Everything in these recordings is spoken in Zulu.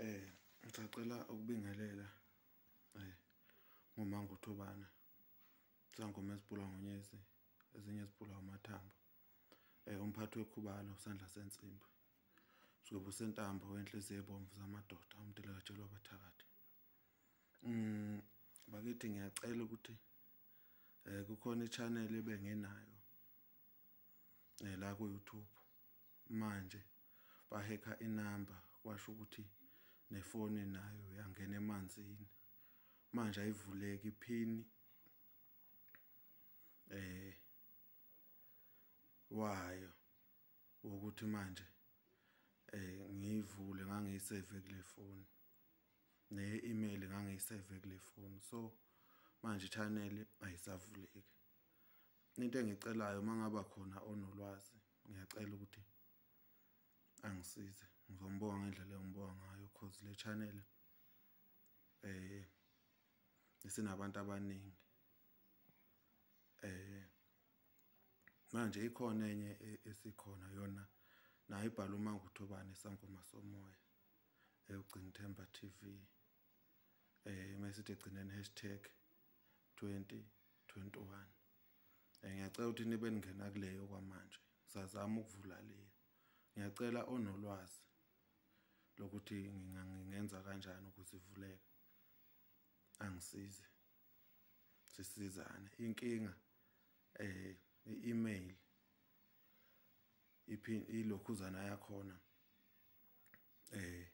Eh ngisacela ukubingelela eh ngomango Thobana sangoma esibhula ngonyezi ezinye ezibhula umathambo eh umphathi wekhubalo sandla sensimbi sizobe sentambo wenhliziyo ebomvu zamadoda umdela katshelwa abathakathi mm bakithi ngiyacela ukuthi eh kukhona ichannel ebengenayo eh la ku YouTube Manje bahekha inamba kwasho ukuthi nefoni nayo yangena emanzini. Manje ayivuleki iphini eh wayo ukuthi manje eh ngiyivule ngangiyisave kule phone ne email ngangiyisave kule phone so manje channel ayisavuleki into engicelayo mangaba khona onolwazi ngiyacela ukuthi angisize ngizombonga ngendlela engibonga ngayo cause le channel eh isinabantu abaningi eh manje ikhona enye e-, esikhona yona nayo ibhala uma nguthobane sangoma somoya eyogcina Themba TV eh mesithi gcineni hashtag 2021 Eh, ngiyacela ukuthi nibe ningena kuleyo kwamanje sazama ukuvula leyo ngiyacela onolwazi lokuthi ngingenza kanjani ukuze ivuleke angisize sisizane inkinga eh i-email iphin ilokhuzana yakhona eh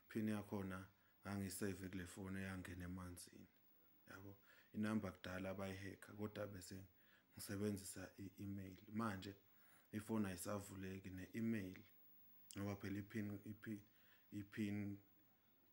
phini yakhona ngangisave kule foni eyangena emanzini yabo inumber kudala abayiheka kodwa bese ngisebenzisa i-email manje ifoni ayisavuleki ne-email ngoba phela ipin ipin ipin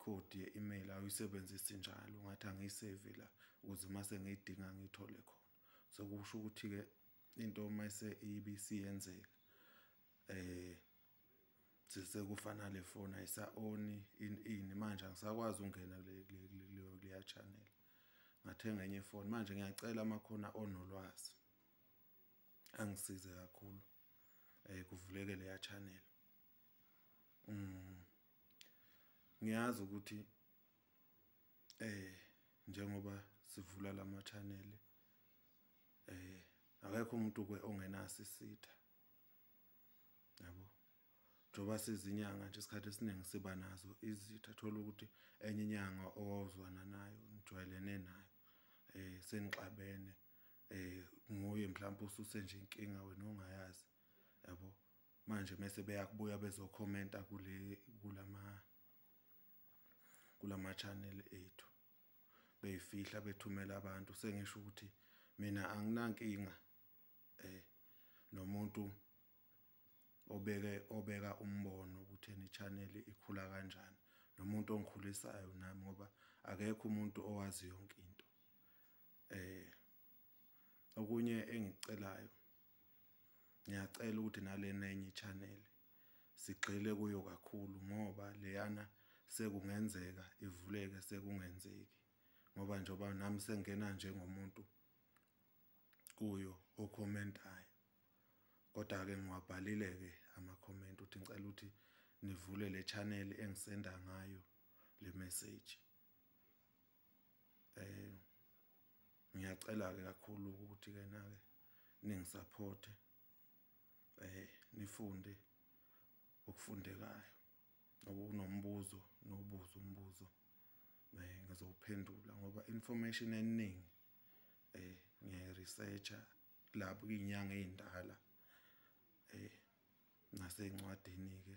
code ye-email awuyisebenzisi njalo ngathi angiyisave la ukuze uma sengiyidinga ngiyithole khona so kusho ukuthi-ke into uma ise ibisiyenzeka eh sise kufana le phone ayisa on in in manje angisakwazi ungena kule kule channel ngathenga enye phone manje ngiyacela makhona onolwazi angisize kakhulu eh kuvuleke leya channel mm ngiyazi ukuthi eh njengoba sivula lama channel eh akekho umuntu ke ongenasisitha yabo njengoba sizinyanga nje isikhathi esiningi siba nazo izitha thola ukuthi enye inyanga owawuzwana nayo nijwayelene nayo eh senixabene eh nguye mhlawumbe ususe nje inkinga wena ongayazi yabo manje mase beyakubuya bezokhomenta kule kulama kulama channel ethu beyifihla bethumela abantu sengisho ukuthi mina anginankinga eh nomuntu obeke obeka umbono ukuthi eni channel ikhula kanjani nomuntu ongikhulisayo nami ngoba akekho umuntu owazi yonke into eh okunye engicelayo ngiyacela ukuthi nalena enye channel sigxile kuyo kakhulu ngoba leyana sekungenzeka ivuleke sekungenzeki ngoba njengoba nami sengena njengomuntu kuyo okhomentayo kodwa ke ngiwabhalile ke ama comment uthi ngicela ukuthi nivule le channel engisenda ngayo le message eh ngiyacela ke kakhulu ukuthi ke na ke ningisupport eh nifunde okufundekayo nokunombuzo nobuzo umbuzo eh ngizowuphendula ngoba information eningi eh ngiye researcher lapho inyanga ezindala eh ngase incwadini ke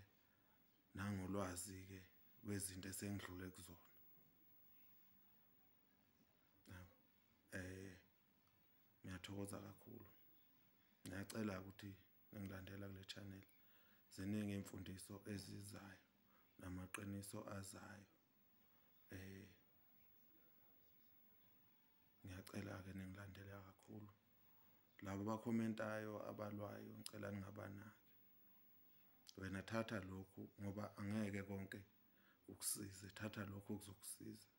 nangolwazi ke kwezinto esengidlule kuzona eh ngiyathokoza kakhulu ngiyacela ukuthi ngilandela kule channel ziningi imfundiso ezizayo namaqiniso azayo eh ngiyacela ke ningilandele kakhulu labo bakhomentayo abalwayo ngicela ningabanaki wena thatha lokhu ngoba angeke konke ukusize thatha lokhu kuzokusiza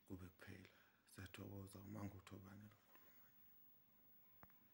kube kuphela siyathokoza uma nguthobane lokho